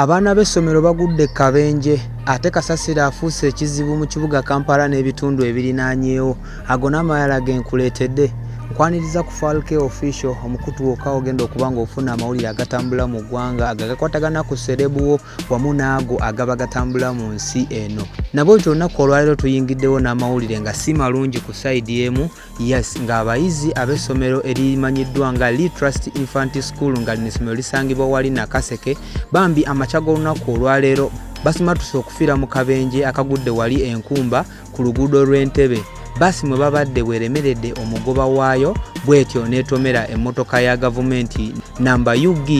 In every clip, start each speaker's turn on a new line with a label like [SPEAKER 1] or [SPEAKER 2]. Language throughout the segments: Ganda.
[SPEAKER 1] Abaana b'essomero bagudde e kabenje ate kasasiro afuuse ekizibu mu kibuga kampala n'ebitundu ebirinaanyeewo ago n'amalala ge nkuleetedde nkwaniriza ku falke official omukutu wokka ogenda okuba ng'ofuna amawulire agatambula mu ggwanga ago agakwatagana ku serebuwo wamu n'ago agaba gatambula mu nsi eno nabwe ti olunaku olwaleero tuyingiddewo n'amawulire nga si malungi ku sayidi emu Yes, nga abayizi ab'essomero erimanyiddwa nga Lee Trust Infant School nga lino essomero lisangibwa wali Nakaseke bambi amakya g'olunaku olwaleero basimatuse okufiira mu kabenje akagudde wali enkumba ku luguudo lw'entebe baasi mwe babadde bweremeredde omugoba waayo bwetyo n'etomera emmotoka ya gavumenti namba ug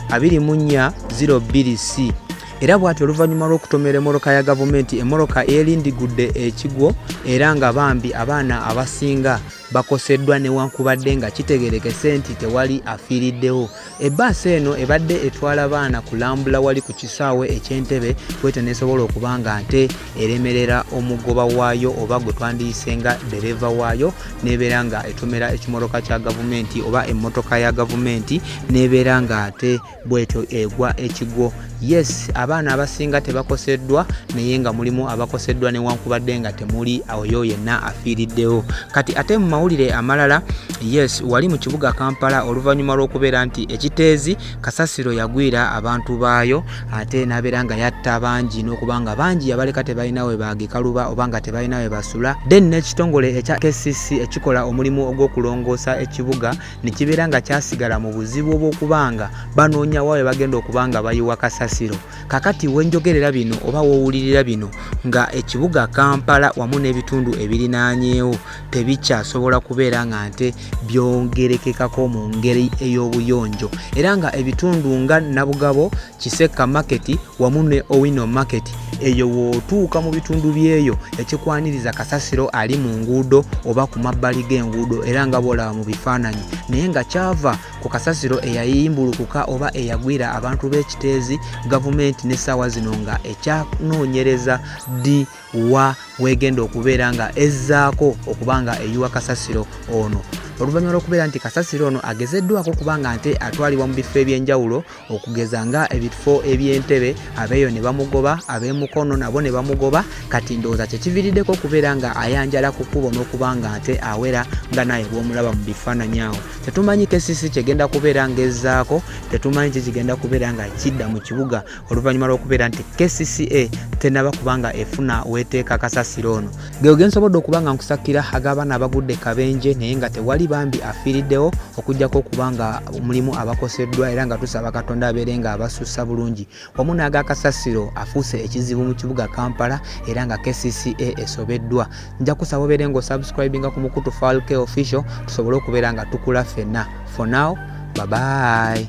[SPEAKER 1] 2402 c era bwati oluvannyuma lw'okutomera emoroka ya gavumenti emoroka elindigudde ekigwo era nga bambi abaana abasinga bakoseddwa newankubadde nga kitegerekese nti tewali afiiriddewo ebbaasa eno ebadde etwala baana kulambula wali ku kisaawe ekyentebe kwete nesobola okuba nga nte eremerera omugoba waayo oba gwe twandiyise nga dereva waayo nebeera nga etomera ekimoroka kya gavumenti oba emmotoka ya gavumenti nebeera nga ate bwetyo egwa ekigwo yes abaana abasinga tebakoseddwa naye nga mulimu abakoseddwa newankubadde nga temuli oyo yenna afiiriddewo kati ate mu mawulire amalala yes wali mu kibuga kampala oluvannyuma lw'okubeera nti ekiteezi kasasiro yagwira abantu baayo ate n'abeera nga yatta bangi n'okuba nga bangi yabaleka tebalina we bagikaluba oba nga tebalina we basula then n'ekitongole ekya kcc ekikola omulimu ogw'okulongoosa ekibuga ne kibeera nga kyasigala mu buzibu obw'okuba nga banoonya wa we bagenda okuba nga bayiwa kasasiro kakati wenjogerera bino oba wowulirira bino nga ekibuga kampala wamu n'ebitundu ebirinaanyeewo tebikyasobola kubeera nga nte byongerekekako mu ngeri ey'obuyonjo era nga ebitundu nga nabugabo Kisekka Market wamu ne Owino Market eyo wootuuka mu bitundu byeyo ekikwaniriza kasasiro ali mu nguudo oba ku mabbali g'enguudo era nga bwolaba mu bifaananyi naye nga kyava ku kasasiro eyayimbulukuka oba eyagwira abantu b'ekiteezi gavumenti n'essaawa zino nga ekyanoonyereza ddi wa weegenda okubeera nga ezzaako okuba nga eyiwa kasasiro ono oluvannyuma lw'okubeera nti kasasiro ono agezeddwako kubanga nte atwalibwa mu bifo eby'enjawulo okugeza nga ebifo ebyentebe abeeyo ne bamugoba ab'emukono nabo ne bamugoba kati ndowooza kyekiviiriddeko okubeera nga ayanjala ku kkubo n'okuba nga ate awera nga naye bw'omulaba mu bifaananyi awo tetumanyi kesisi kyegenda kubeera ng'ezzaako tetumanyi kye kigenda kubeera nga kidda mu kibuga oluvannyuma lw'okubeera nti kcca tenaba kubanga efuna weeteeka kasasiro ono Geo gensobodde okuba nga nkusakira ag'abaana abagudde kabenje naye nga tewali bambi afiiriddewo okujjako okuba nga mulimu abakoseddwa era nga tusaba katonda abeere nga abasussa bulungi wamu n'agakasasiro afuuse ekizibu mu kibuga kampala era nga kcca esobeddwa nja kusaba obeere nga osubscribinga ku mukutu falk official tusobole okubeera nga tukula ffenna for now babayi